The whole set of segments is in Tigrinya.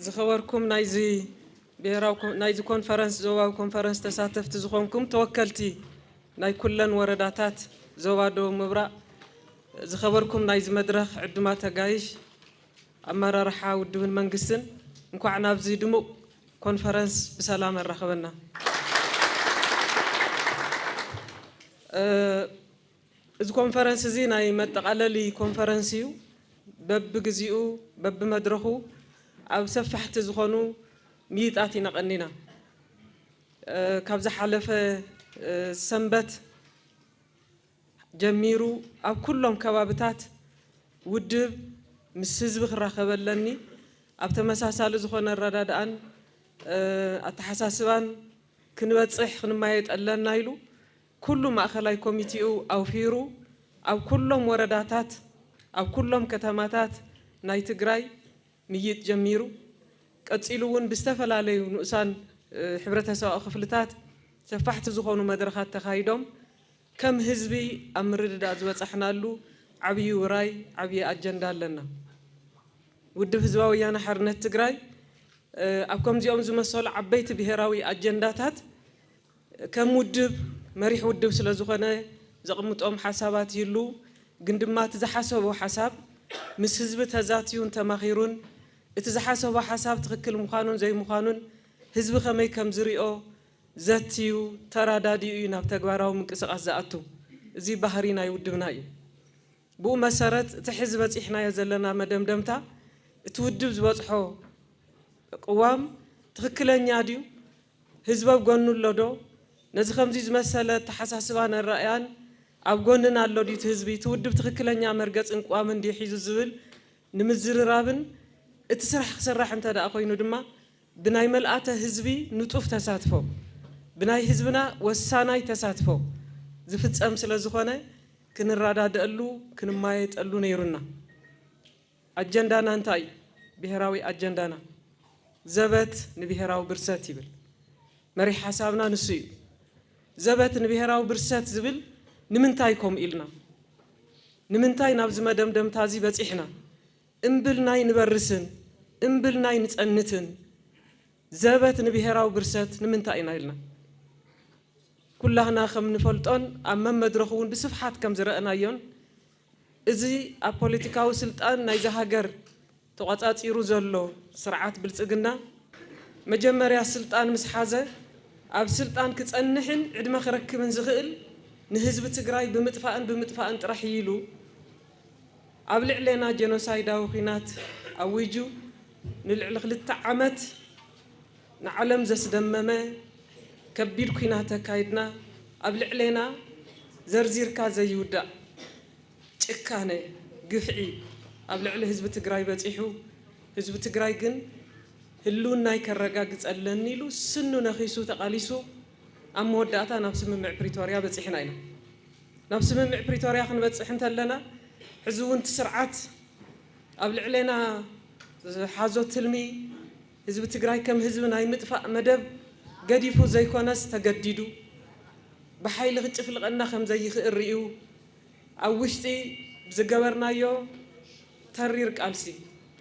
ዝኸበርኩም ናይዚ ብሄራዊ ናይዚ ኮንፈረንስ ዞባዊ ኮንፈረንስ ተሳተፍቲ ዝኾንኩም ተወከልቲ ናይ ኩለን ወረዳታት ዞባ ደቡብ ምብራቕ ዝኸበርኩም ናይዚ መድረኽ ዕዱማ ተጋይሽ ኣመራርሓ ውድብን መንግስትን እንኳዕ ናብዚ ድሙቕ ኮንፈረንስ ብሰላም ኣራኸበና። እዚ ኮንፈረንስ እዚ ናይ መጠቓለሊ ኮንፈረንስ እዩ። በብግዚኡ በብመድረኹ ኣብ ሰፋሕቲ ዝኾኑ ምይይጣት ኢና ቀኒና። ካብ ዝሓለፈ ሰንበት ጀሚሩ ኣብ ኩሎም ከባብታት ውድብ ምስ ህዝቢ ክራኸብ ኣለኒ፣ ኣብ ተመሳሳሊ ዝኾነ ኣረዳድኣን ኣተሓሳስባን ክንበፅሕ ክንማየጥ ኣለና ኢሉ ኩሉ ማእኸላይ ኮሚቲኡ ኣውፊሩ ኣብ ኩሎም ወረዳታት ኣብ ኩሎም ከተማታት ናይ ትግራይ ምይይጥ ጀሚሩ። ቀፂሉ እውን ብዝተፈላለዩ ንኡሳን ሕብረተሰባዊ ክፍልታት ሰፋሕቲ ዝኾኑ መድረኻት ተኻይዶም ከም ህዝቢ ኣብ ምርድዳእ ዝበፃሕናሉ ዓብዪ ውራይ ዓብዪ ኣጀንዳ ኣለና። ውድብ ህዝባዊ ወያነ ሓርነት ትግራይ ኣብ ከምዚኦም ዝመሰሉ ዓበይቲ ብሄራዊ ኣጀንዳታት ከም ውድብ መሪሕ ውድብ ስለ ዝኾነ ዘቕምጦም ሓሳባት ይህልዉ፣ ግን ድማ እቲ ዝሓሰቦ ሓሳብ ምስ ህዝቢ ተዛትዩን ተማኺሩን እቲ ዝሓሰቦ ሓሳብ ትኽክል ምዃኑን ዘይምዃኑን ህዝቢ ከመይ ከም ዝሪኦ ዘትዩ ተራዳዲኡ እዩ ናብ ተግባራዊ ምንቅስቓስ ዝኣቱ። እዚ ባህሪ ናይ ውድብና እዩ። ብኡ መሰረት እቲ ሕዚ በፂሕናዮ ዘለና መደምደምታ እቲ ውድብ ዝበፅሖ ቅዋም ትኽክለኛ ድዩ ህዝቢ ኣብ ጎኑ ኣሎ ዶ? ነዚ ከምዚ ዝመሰለ ኣተሓሳስባን ኣራእያን ኣብ ጎንና ኣሎ ድዩ እቲ ህዝቢ? እቲ ውድብ ትኽክለኛ መርገፅን ቅዋምን ድዩ ሒዙ ዝብል ንምዝርራብን እቲ ስራሕ ክስራሕ እንተድኣ ኮይኑ ድማ ብናይ መልኣተ ህዝቢ ንጡፍ ተሳትፎ፣ ብናይ ህዝብና ወሳናይ ተሳትፎ ዝፍፀም ስለዝኾነ ክንረዳደኣሉ ክንማየጠሉ ነይሩና። ኣጀንዳና እንታይ እዩ? ብሄራዊ ኣጀንዳና ዘበት ንብሄራዊ ብርሰት ይብል። መሪሕ ሓሳብና ንሱ እዩ። ዘበት ንብሄራዊ ብርሰት ዝብል ንምንታይ ከምኡ ኢልና? ንምንታይ ናብዚ መደምደምታ እዚ በፂሕና? እምብልና ኣይንበርስን፣ እምብልና ኣይንፀንትን፣ ዘበት ንብሄራዊ ብርሰት ንምንታይ ኢና ኢልና? ኩላህና ከም ንፈልጦን ኣብ መመድረኹ እውን ብስፍሓት ከም ዝረእናዮን፣ እዚ ኣብ ፖለቲካዊ ስልጣን ናይዛ ሃገር ተቖጻጺሩ ዘሎ ስርዓት ብልጽግና፣ መጀመርያ ስልጣን ምስ ሓዘ፣ ኣብ ስልጣን ክጸንሕን ዕድመ ክረክብን ዝኽእል ንህዝቢ ትግራይ ብምጥፋእን ብምጥፋእን ጥራሕ እዩ ኢሉ ኣብ ልዕሌና ጀኖሳይዳዊ ኲናት ኣዊጁ ንልዕሊ ክልተ ዓመት ንዓለም ዘስደመመ ከቢድ ኩናት ኣካይድና ኣብ ልዕሌና ዘርዚርካ ዘይውዳእ ጭካነ ግፍዒ ኣብ ልዕሊ ህዝቢ ትግራይ በፂሑ ህዝቢ ትግራይ ግን ህልውናይ ከረጋግፀለኒ ኢሉ ስኑ ነኺሱ ተቓሊሱ ኣብ መወዳእታ ናብ ስምምዕ ፕሪቶርያ በፂሕና ኢና ናብ ስምምዕ ፕሪቶርያ ክንበፅሕ እንተለና ሕዚ እውን እቲ ስርዓት ኣብ ልዕሌና ዝሓዞ ትልሚ ህዝቢ ትግራይ ከም ህዝቢ ናይ ምጥፋእ መደብ ገዲፉ ዘይኮነስ ተገዲዱ ብሓይሊ ክጭፍልቐና ከም ዘይኽእል ርእዩ ኣብ ውሽጢ ብዝገበርናዮ ተሪር ቃልሲ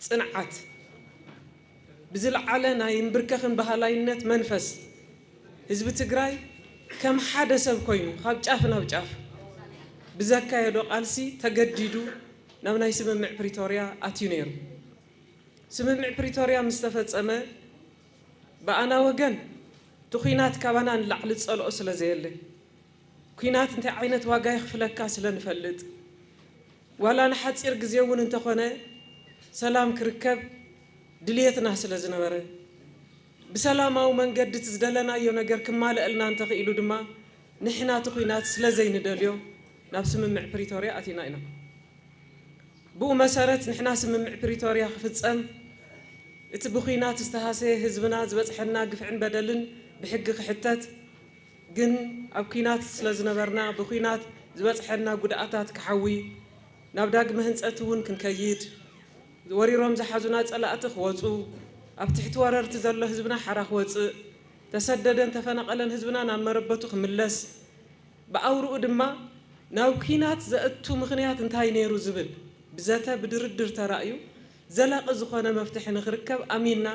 ፅንዓት ብዝልዓለ ናይ እምብርከኽን በሃላይነት መንፈስ ህዝቢ ትግራይ ከም ሓደ ሰብ ኮይኑ ካብ ጫፍ ናብ ጫፍ ብዘካየዶ ቃልሲ ተገዲዱ ናብ ናይ ስምምዕ ፕሪቶርያ ኣትዩ ነይሩ። ስምምዕ ፕሪቶርያ ምስ ተፈጸመ ብኣና ወገን እቲ ኲናት ካባና ንላዕሊ ዝጸልኦ ስለ ዘየለ፣ ኲናት እንታይ ዓይነት ዋጋ የኽፍለካ ስለ ንፈልጥ፣ ዋላ ንሓጺር ግዜ እውን እንተኾነ ሰላም ክርከብ ድልየትና ስለ ዝነበረ፣ ብሰላማዊ መንገዲ እቲ ዝደለናዮ ነገር ክማለእልና እንተኽኢሉ ድማ ንሕና እቲ ኲናት ስለ ዘይንደልዮ ናብ ስምምዕ ፕሪቶርያ ኣቲና ኢና። ብኡ መሰረት ንሕና ስምምዕ ፕሪቶርያ ክፍፀም፣ እቲ ብዂናት ዝተሃሰየ ህዝብና ዝበፅሐና ግፍዕን በደልን ብሕጊ ክሕተት፣ ግን ኣብ ኲናት ስለዝነበርና ብዂናት ዝበፅሐና ጉድኣታት ክሓዊ፣ ናብ ዳግመ ህንፀት እውን ክንከይድ፣ ወሪሮም ዝሓዙና ፀላእቲ ክወፁ፣ ኣብ ትሕቲ ወረርቲ ዘሎ ህዝብና ሓራ ክወፅእ፣ ተሰደደን ተፈናቐለን ህዝብና ናብ መረበቱ ክምለስ፣ ብኣውርኡ ድማ ናብ ኲናት ዘእቱ ምኽንያት እንታይ ነይሩ ዝብል ብዘተ ብድርድር ተራእዩ ዘላቒ ዝኾነ መፍትሒ ንክርከብ ኣሚንና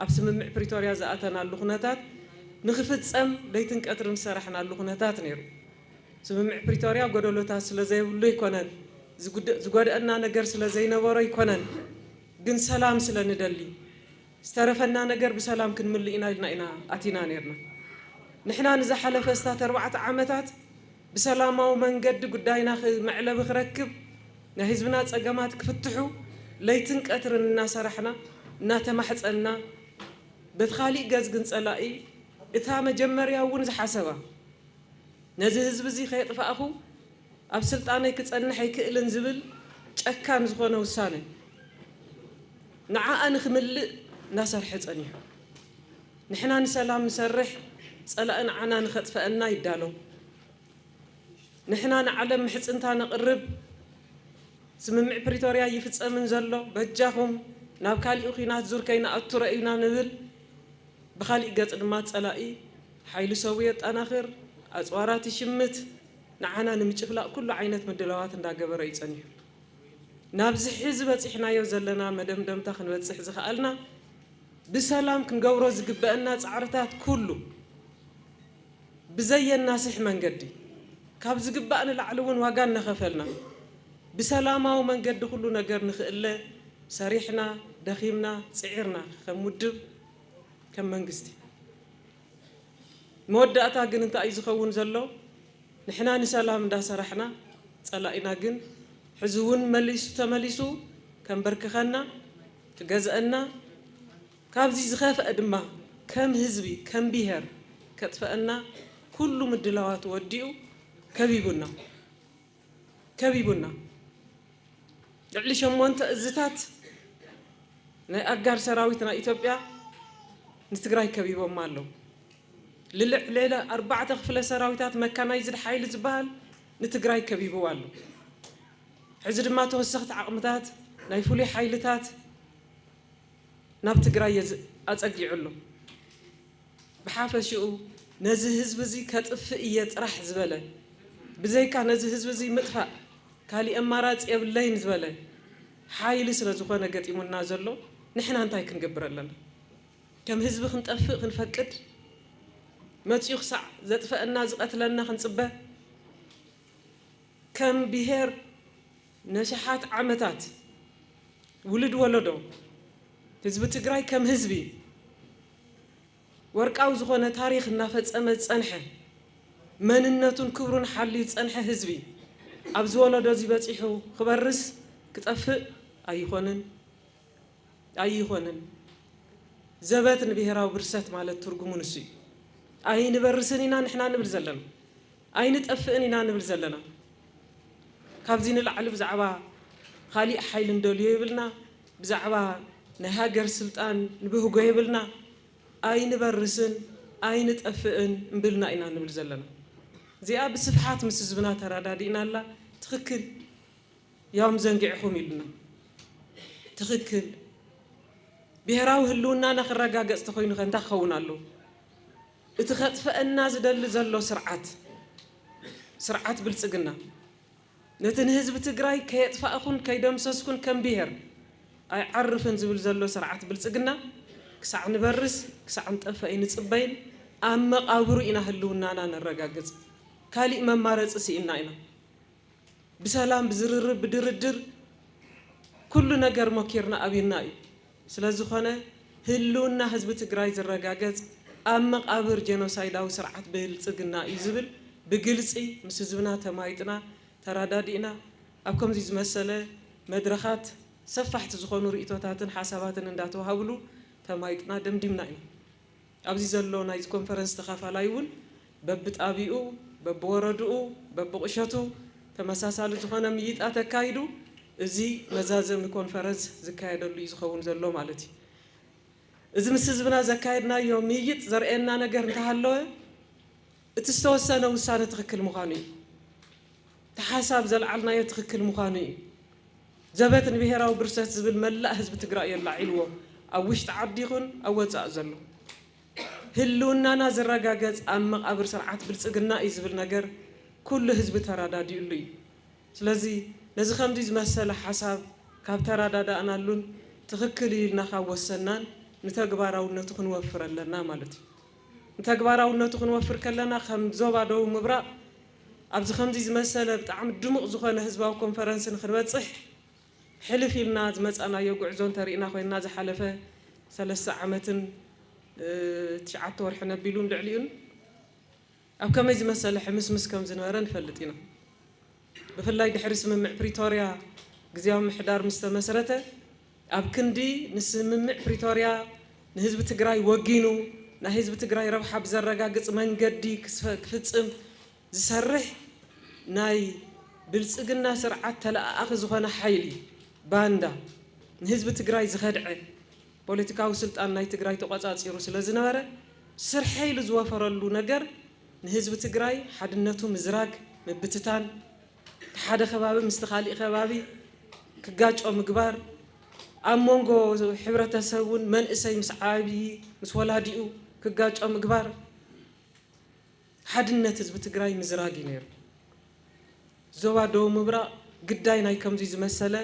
ኣብ ስምምዕ ፕሪቶርያ ዝኣተናሉ ኩነታት ንክፍፀም ለይትን ቀትርን ዝሰራሕናሉ ኩነታት ነይሩ። ስምምዕ ፕሪቶርያ ጎደሎታት ስለዘይብሉ ኣይኮነን፣ ዝጎድኣና ነገር ስለዘይነበሮ ኣይኮነን ግን ሰላም ስለንደሊ፣ ዝተረፈና ነገር ብሰላም ክንምልእ ኢና ኢልና ኢና ኣቲና ኔርና። ንሕና ንዝሓለፈ ኣስታት ኣርባዕተ ዓመታት ብሰላማዊ መንገዲ ጉዳይና መዕለቢ ክረክብ፣ ናይ ህዝብና ጸገማት ክፍትሑ ለይትን ቀትርን እናሰራሕና፣ እናተማሕጸንና፣ በቲ ካሊእ ገጽ ግን ጸላኢ እታ መጀመርያ እውን ዝሓሰባ ነዚ ህዝቢ እዚ ከየጥፋእኹ ኣብ ስልጣነይ ክጸንሕ ኣይክእልን ዝብል ጨካን ዝኾነ ውሳነ ንዓኣ ንክምልእ ናሰርሐ ፀኒሑ ንሕና ንሰላም ንሰርሕ ፀላኢ ንዓና ንከጥፈኣና ይዳሎ ንሕና ንዓለም ምሕፅንታ ነቅርብ ስምምዕ ፕሪቶርያ ኣይፍፀምን ዘሎ በጃኩም ናብ ካሊእ ኹናት ዙር ከይንኣቱ ረእዩና ንብል ብካሊእ ገፅ ድማ ፀላኢ ሓይሊ ሰቡ የጣናክር ኣፅዋራት ይሽምት ንዓና ንምጭፍላቅ ኩሉ ዓይነት ምድላዋት እንዳገበረ እዩ ፀኒሑ። ናብዚ ሕዚ በጺሕናዮ ዘለና መደምደምታ ክንበጽሕ ዝኸኣልና፣ ብሰላም ክንገብሮ ዝግበእና ጻዕርታት ኩሉ ብዘየናስሕ መንገዲ፣ ካብ ዝግባእ ንላዕሊ እውን ዋጋ እናኸፈልና፣ ብሰላማዊ መንገዲ ኩሉ ነገር ንክእለ ሰሪሕና፣ ደኺምና፣ ጽዒርና ከም ውድብ፣ ከም መንግስቲ። መወዳእታ ግን እንታይ እዩ ዝኸውን ዘሎ ንሕና ንሰላም እንዳሰራሕና ፀላኢና ግን ሕዚ እውን መሊሱ ተመሊሱ ከንበርክኸና ክገዝኣና ካብዚ ዝኸፍኣ ድማ ከም ህዝቢ ከም ብሄር ከጥፈኣና ኩሉ ምድላዋቱ ወዲኡ ከቢቡና። ከቢቡና ልዕሊ ሸሞንተ እዝታት ናይ ኣጋር ሰራዊት ናይ ኢትዮጵያ ንትግራይ ከቢቦማ ኣለው። ልልዕሊ ኣርባዕተ ክፍለ ሰራዊታት መካናይዝድ ሓይሊ ዝበሃል ንትግራይ ከቢቡዋ ኣሎ። ሕዚ ድማ ተወሰኽቲ ዓቕምታት ናይ ፍሉይ ሓይልታት ናብ ትግራይ ኣፀጊዑ ኣሎ። ብሓፈሽኡ ነዚ ህዝቢ እዚ ከጥፍእ እየ ጥራሕ ዝበለ ብዘይካ ነዚ ህዝቢ እዚ ምጥፋእ ካሊእ ኣማራፂ የብለይን ዝበለ ሓይሊ ስለዝኾነ ገጢሙና ዘሎ ንሕና እንታይ ክንገብር ኣለና? ከም ህዝቢ ክንጠፍእ ክንፈቅድ? መፂኡ ክሳዕ ዘጥፈኣና ዝቐትለና ክንፅበ? ከም ብሄር ነሽሓት ዓመታት ውልድ ወለዶ ህዝቢ ትግራይ ከም ህዝቢ፣ ወርቃዊ ዝኾነ ታሪኽ እናፈፀመ ዝፀንሐ፣ መንነቱን ክብሩን ሓልዩ ዝፀንሐ ህዝቢ ኣብዚ ወለዶ እዚ በፂሑ ክበርስ ክጠፍእ ኣይኾንን። ኣይኾንን። ዘበት ንብሄራዊ ብርሰት ማለት ትርጉሙ ንሱ እዩ። ኣይንበርስን ኢና ንሕና ንብል ዘለና። ኣይንጠፍእን ኢና ንብል ዘለና ካብዚ ንላዕሊ ብዛዕባ ኻሊእ ሓይሊ ንደልዮ የብልና ብዛዕባ ናይ ሃገር ስልጣን ንብህጎ የብልና ኣይንበርስን ኣይንጠፍእን እምብልና ኢና ንብል ዘለና እዚኣ ብስፍሓት ምስ ህዝብና ተራዳዲእናላ ትኽክል ያውም ዘንጊዕኹም ኢሉና ትኽክል ብሄራዊ ህልውናና ክረጋገፅ ተኾይኑኸ እንታይ ክኸውን ኣለዎ? እቲ ከጥፈእና ዝደሊ ዘሎ ስርዓት ስርዓት ብልፅግና ነቲ ንህዝቢ ትግራይ ከየጥፋእኹን ከይደምሰስኩን ከም ብሄር ኣይዓርፍን ዝብል ዘሎ ስርዓት ብልፅግና ክሳዕ ንበርስ ክሳዕ ንጠፈእ ኣይንፅበይን ኣብ መቓብሩ ኢና ህልውናና ነረጋግፅ ካሊእ መማረፂ ስኢንና ኢና። ብሰላም ብዝርርብ ብድርድር ኩሉ ነገር ሞኪርና ኣብዩና እዩ። ስለዝኾነ ህልውና ህዝቢ ትግራይ ዝረጋገፅ ኣብ መቓብር ጀኖሳይዳዊ ስርዓት ብልፅግና እዩ ዝብል ብግልፂ ምስ ህዝብና ተማይጥና ተራዳዲእና ኣብ ከምዙይ ዝመሰለ መድረኻት ሰፋሕቲ ዝኾኑ ሪኢቶታትን ሓሳባትን እንዳተውሃብሉ ተማይጥና ደምዲምና ኢና። ኣብዚ ዘሎ ናይዚ ኮንፈረንስ ተኻፋላይ እውን በብጣብይኡ፣ በብወረድኡ፣ በብቑሸቱ ተመሳሳሊ ዝኾነ ምይይጣት ኣካይዱ እዚ መዛዘሚ ኮንፈረንስ ዝካየደሉ እዩ ዝኸውን ዘሎ ማለት እዩ። እዚ ምስ ህዝብና ዘካየድናዮ ምይይጥ ዘርእየና ነገር እንተሃለወ፣ እቲ ዝተወሰነ ውሳነ ትኽክል ምዃኑ እዩ። እቲ ሓሳብ ዘልዓልናዮ ትኽክል ምዃኑ እዩ። ዘበት ንብሄራዊ ብርሰት ዝብል መላእ ህዝቢ ትግራይ እዩ ኣላዒልዎ ኣብ ውሽጢ ዓዲ ይኹን ኣብ ወፃእ ዘሎ። ህልውናና ዝረጋገፅ ኣብ መቓብር ስርዓት ብልፅግና እዩ ዝብል ነገር ኩሉ ህዝቢ ተራዳዲኡሉ እዩ። ስለዚ ነዚ ከምዚ ዝመሰለ ሓሳብ ካብ ተራዳዳእናሉን ትኽክል እዩ ኢልና ካብ ወሰናን ንተግባራውነቱ ክንወፍር ኣለና ማለት እዩ። ንተግባራውነቱ ክንወፍር ከለና ከም ዞባ ደቡብ ምብራቕ ኣብዚ ከምዚ ዝመሰለ ብጣዕሚ ድሙቕ ዝኾነ ህዝባዊ ኮንፈረንስ ንክንበፅሕ ሕልፍ ኢልና ዝመፃእናዮ ጉዕዞ እንተሪእና ኮይንና ዝሓለፈ ሰለስተ ዓመትን ትሽዓተ ወርሕን ኣቢሉን ልዕሊኡን ኣብ ከመይ ዝመሰለ ሕምስምስ ከም ዝነበረ ንፈልጥ ኢና። ብፍላይ ድሕሪ ስምምዕ ፕሪቶርያ ግዝያዊ ምምሕዳር ምስ ተመስረተ፣ ኣብ ክንዲ ንስምምዕ ፕሪቶርያ ንህዝቢ ትግራይ ወጊኑ ናይ ህዝቢ ትግራይ ረብሓ ብዘረጋግፅ መንገዲ ክፍፅም ዝሰርሕ ናይ ብልፅግና ስርዓት ተለኣኣኺ ዝኾነ ሓይሊ፣ ባንዳ፣ ንህዝቢ ትግራይ ዝኸድዐ፣ ፖለቲካዊ ስልጣን ናይ ትግራይ ተቖፃፂሩ ስለ ዝነበረ ስርሐይ ኢሉ ዝወፈረሉ ነገር ንህዝቢ ትግራይ ሓድነቱ ምዝራግ፣ ምብትታን፣ እቲ ሓደ ከባቢ ምስቲ ካሊእ ከባቢ ክጋጮ ምግባር፣ ኣብ ሞንጎ ሕብረተሰብ እውን መንእሰይ ምስ ዓብዪ ምስ ወላዲኡ ክጋጮ ምግባር፣ ሓድነት ህዝቢ ትግራይ ምዝራግ እዩ ነይሩ። ዞባ ደቡብ ምብራቕ ግዳይ ናይ ከምዙይ ዝመሰለ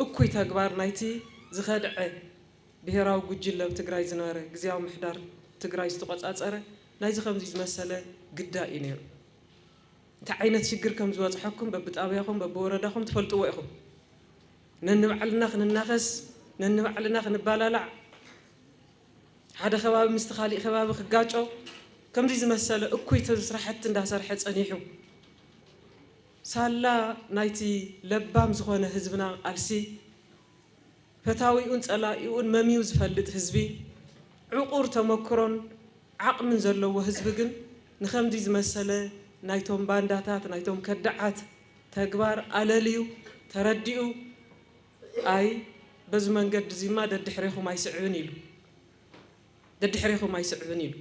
እኩይ ተግባር ናይቲ ዝኸድዐ ብሄራዊ ጉጅለ ኣብ ትግራይ ዝነበረ ግዝያዊ ምምሕዳር ትግራይ ዝተቖፃፀረ ናይዚ ከምዙይ ዝመሰለ ግዳይ እዩ ነይሩ። እንታይ ዓይነት ሽግር ከም ዝበፅሐኩም በብጣብያኹም በብወረዳኹም ትፈልጥዎ ኢኹም። ነንባዕልና ክንናኸስ ነንባዕልና ክንባላላዕ ሓደ ከባቢ ምስቲ ካሊእ ከባቢ ክጋጮ ከምዚ ዝመሰለ እኩይ ስራሕቲ እንዳሰርሐ ፀኒሑ ሳላ ናይቲ ለባም ዝኾነ ህዝብና ቃልሲ ፈታዊኡን ፀላኢኡን መምዩ ዝፈልጥ ህዝቢ ዕቑር ተመክሮን ዓቕሚን ዘለዎ ህዝቢ ግን ንኸምዚ ዝመሰለ ናይቶም ባንዳታት ናይቶም ከዳዓት ተግባር ኣለልዩ ተረዲኡ ኣይ በዚ መንገዲ እዚማ ደድሕሬኹም ኣይስዕብን ኢሉ ደድሕሬኹም ኣይስዕብን ኢሉ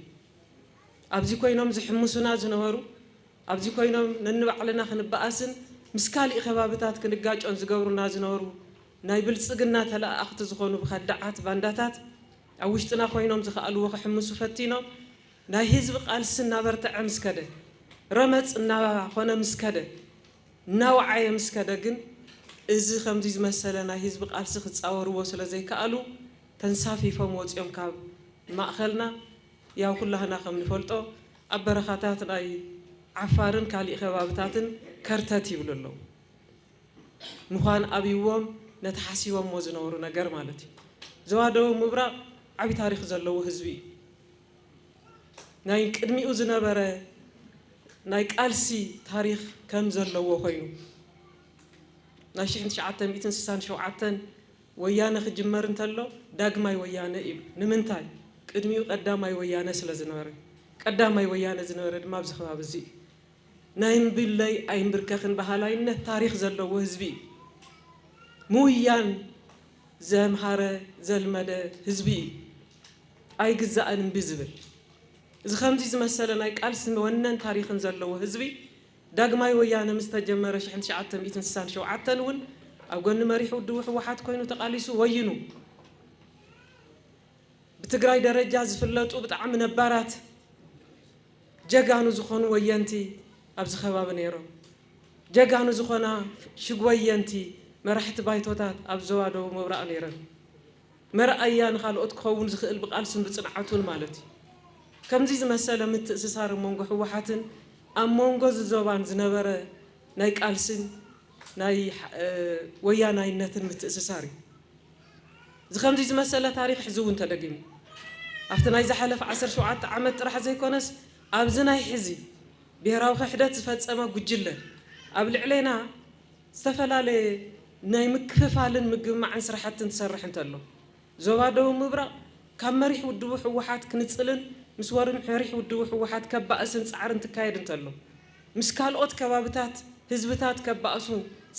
ኣብዚ ኮይኖም ዝሕምሱና ዝነበሩ ኣብዚ ኮይኖም ነንባዕልና ክንበኣስን ምስ ካሊእ ከባብታት ክንጋጮን ዝገብሩና ዝነበሩ ናይ ብልፅግና ተለኣኣኽቲ ዝኾኑ ብኸዳዓት ባንዳታት ኣብ ውሽጥና ኮይኖም ዝኸኣልዎ ክሕምሱ ፈቲኖም ናይ ህዝቢ ቃልሲ እናበርተዐ ምስ ከደ ረመፅ እናኾነ ምስ ከደ እናወዓየ ምስ ከደ ግን እዚ ከምዚ ዝመሰለ ናይ ህዝቢ ቃልሲ ክጻወርዎ ስለ ዘይከኣሉ ተንሳፊፎም ወጺኦም ካብ ማእኸልና። ያው ኩላህና ከም ንፈልጦ ኣብ በረኻታት ናይ ዓፋርን ካሊእ ከባብታትን ከርተት ይብሉ ኣለዉ። ምዃን ኣብይዎም ነቲ ሓሲቦሞ ዝነበሩ ነገር ማለት እዩ። ዞባ ደቡብ ምብራቕ ዓቢ ታሪኽ ዘለዎ ህዝቢ እዩ። ናይ ቅድሚኡ ዝነበረ ናይ ቃልሲ ታሪኽ ከም ዘለዎ ኮይኑ ናይ ሽሕን ትሽዓተ ሚእትን ስሳን ሸውዓተን ወያነ ክጅመር እንተሎ ዳግማይ ወያነ ኢሉ ንምንታይ ቅድሚኡ ቀዳማይ ወያነ ስለ ዝነበረ ቀዳማይ ወያነ ዝነበረ ድማ ኣብዚ ከባቢ እዚ እዩ ናይ እምብለይ ኣይምብርከኽን በሃላይነት ታሪኽ ዘለዎ ህዝቢ እዩ ምውያን ዘምሃረ ዘልመደ ህዝቢ እዩ ኣይግዛእን እምቢ ዝብል እዚ ከምዚ ዝመሰለ ናይ ቃልሲ ወነን ታሪኽን ዘለዎ ህዝቢ ዳግማይ ወያነ ምስ ተጀመረ ሽሕን ትሽዓተ ሚእትን ስሳን ሸውዓተን እውን ኣብ ጎኒ መሪሕ ውድቡ ህወሓት ኮይኑ ተቃሊሱ ወይኑ ብትግራይ ደረጃ ዝፍለጡ ብጣዕሚ ነባራት ጀጋኑ ዝኾኑ ወየንቲ ኣብዚ ከባቢ ነይሮም ጀጋኑ ዝኾና ሽግ ወየንቲ መራሕቲ ባይቶታት ኣብ ዞባ ደቡብ ምብራቕ ነይረን። መርኣያ ንኻልኦት ክኸውን ዝኽእል ብቓልሱን ብጽንዓቱን ማለት እዩ። ከምዚ ዝመሰለ ምትእስሳር ኣብ መንጎ ህወሓትን ኣብ መንጎ እዚ ዞባን ዝነበረ ናይ ቃልሲን ናይ ወያናይነትን ምትእስሳር እዩ። እዚ ከምዚ ዝመሰለ ታሪኽ ሕዚ እውን ተደጊሙ። ኣብቲ ናይ ዝሓለፈ ዓሰርተ ሸውዓተ ዓመት ጥራሕ ዘይኮነስ ኣብዚ ናይ ሕዚ ብሄራዊ ክሕደት ዝፈጸመ ጉጅለ ኣብ ልዕሌና፣ ዝተፈላለየ ናይ ምክፍፋልን ምግምማዕን ስራሕቲ እንትሰርሕ እንተሎ፣ ዞባ ደቡብ ምብራቕ ካብ መሪሕ ውድቡ ህወሓት ክንፅልን ምስ መሪሕ ውድቡ ህወሓት ከባእስን ፃዕሪ እንትካየድ እንተሎ፣ ምስ ካልኦት ከባብታት ህዝብታት ከባእሱ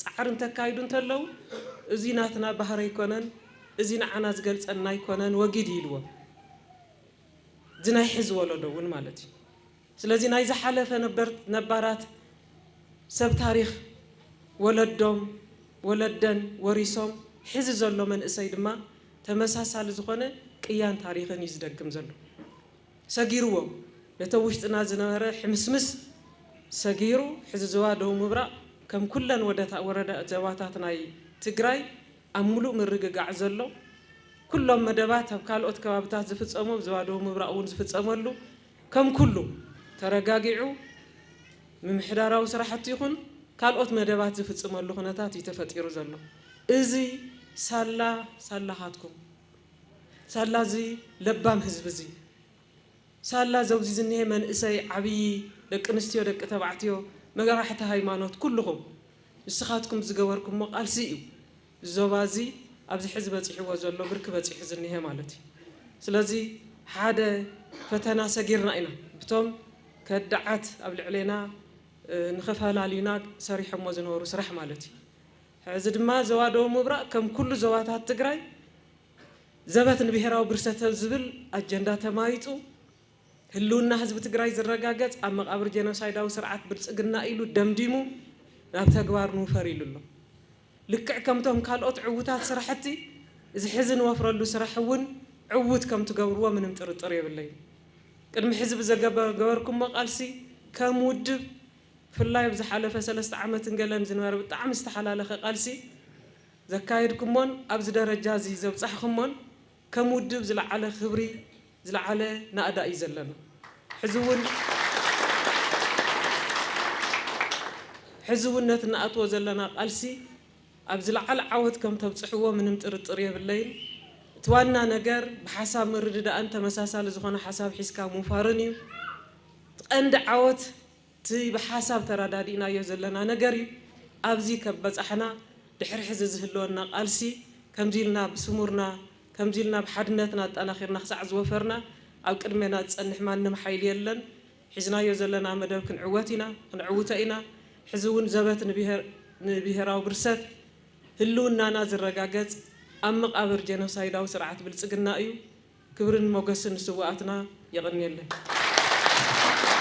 ፃዕሪ እንተካይዱ እንተለው እዙይ ናትና ባህሪ ኣይኮነን፣ እዙይ ንዓና ዝገልፀና ኣይኮነን ወጊድ ኢልዎም። እዚ ናይ ሕዚ ወለዶ እውን ማለት እዩ። ስለዚ ናይ ዝሓለፈ ነባራት ሰብ ታሪኽ ወለዶም ወለደን ወሪሶም ሕዚ ዘሎ መንእሰይ ድማ ተመሳሳሊ ዝኾነ ቅያን ታሪኽን እዩ ዝደግም ዘሎ። ሰጊርዎ ነቲ ኣብ ውሽጥና ዝነበረ ሕምስምስ ሰጊሩ ሕዚ ዞባ ደቡብ ምብራቕ ከም ኩለን ዞባታት ናይ ትግራይ ኣብ ሙሉእ ምርግጋዕ ዘሎ ኩሎም መደባት ኣብ ካልኦት ከባብታት ዝፍፀሙ ኣብ ዞባ ደቡብ ምብራቕ እውን ዝፍፀመሉ ከም ኩሉ ተረጋጊዑ ምምሕዳራዊ ስራሕቲ ይኹን ካልኦት መደባት ዝፍፅመሉ ኩነታት እዩ ተፈጢሩ ዘሎ። እዚ ሳላ ሳላኻትኩም፣ ሳላ እዚ ለባም ህዝቢ እዚ፣ ሳላ ዘብዚ ዝኒሀ መንእሰይ፣ ዓብዪ፣ ደቂ ኣንስትዮ፣ ደቂ ተባዕትዮ፣ መራሕቲ ሃይማኖት ኩሉኹም ንስኻትኩም ዝገበርኩሞ ቃልሲ እዩ ዞባ እዚ ኣብዚ ሕዚ በጺሕዎ ዘሎ ብርኪ በጺሑ ዝኒሀ ማለት እዩ። ስለዚ ሓደ ፈተና ሰጊርና ኢና ብቶም ከዳዓት ኣብ ልዕሌና ንኸፈላልዩና ሰሪሖሞ ዝነበሩ ስራሕ ማለት እዩ። ሕዚ ድማ ዞባ ደቡብ ምብራቕ ከም ኩሉ ዞባታት ትግራይ ዘበት ንብሄራዊ ብርሰተብ ዝብል ኣጀንዳ ተማይጡ ህልውና ህዝቢ ትግራይ ዝረጋገፅ ኣብ መቓብር ጄኖሳይዳዊ ስርዓት ብልፅግና ኢሉ ደምዲሙ ናብ ተግባር ንውፈር ኢሉ ኣሎ። ልክዕ ከምቶም ካልኦት ዕዉታት ስራሕቲ፣ እዚ ሕዚ ንወፍረሉ ስራሕ እውን ዕዉት ከም ትገብርዎ ምንም ጥርጥር የብለይን። ቅድሚ ሕዚ ብዘገበርኩሞ ቃልሲ ከም ውድብ ብፍላይ ኣብ ዝሓለፈ ሰለስተ ዓመትን ገለን ዝነበረ ብጣዕሚ ዝተሓላለኸ ቃልሲ ዘካየድኩሞን ኣብዚ ደረጃ እዚ ዘብፃሕኹሞን፣ ከም ውድብ ዝለዓለ ክብሪ ዝለዓለ ናእዳ እዩ ዘለና። ሕዚ እውን ሕዚ እውን ነቲ እንኣትዎ ዘለና ቃልሲ ኣብ ዝለዓለ ዓወት ከም ተብፅሕዎ ምንም ጥርጥር የብለይን። እቲ ዋና ነገር ብሓሳብ ምርድዳእን ተመሳሳሊ ዝኾነ ሓሳብ ሒዝካ ምውፋርን እዩ። እቲ ቀንዲ ዓወት እቲ ብሓሳብ ተራዳዲእናዮ ዘለና ነገር እዩ ኣብዚ ከብ በፃሕና ድሕሪ ሕዚ ዝህልወና ቃልሲ ከምዚ ኢልና ብስሙርና ከምዚ ኢልና ብሓድነትና ኣጣናኺርና ክሳዕ ዝወፈርና ኣብ ቅድሜና ዝፀንሕ ማንም ሓይሊ የለን ሒዝናዮ ዘለና መደብ ክንዕወት ኢና ክንዕውቶ ኢና ሕዚ እውን ዘበት ንብሄራዊ ብርሰት ህልውናና ዝረጋገፅ ኣብ መቃብር ጀኖሳይዳዊ ስርዓት ብልፅግና እዩ ክብርን ሞገስን ንስውኣትና የቐንየለይ።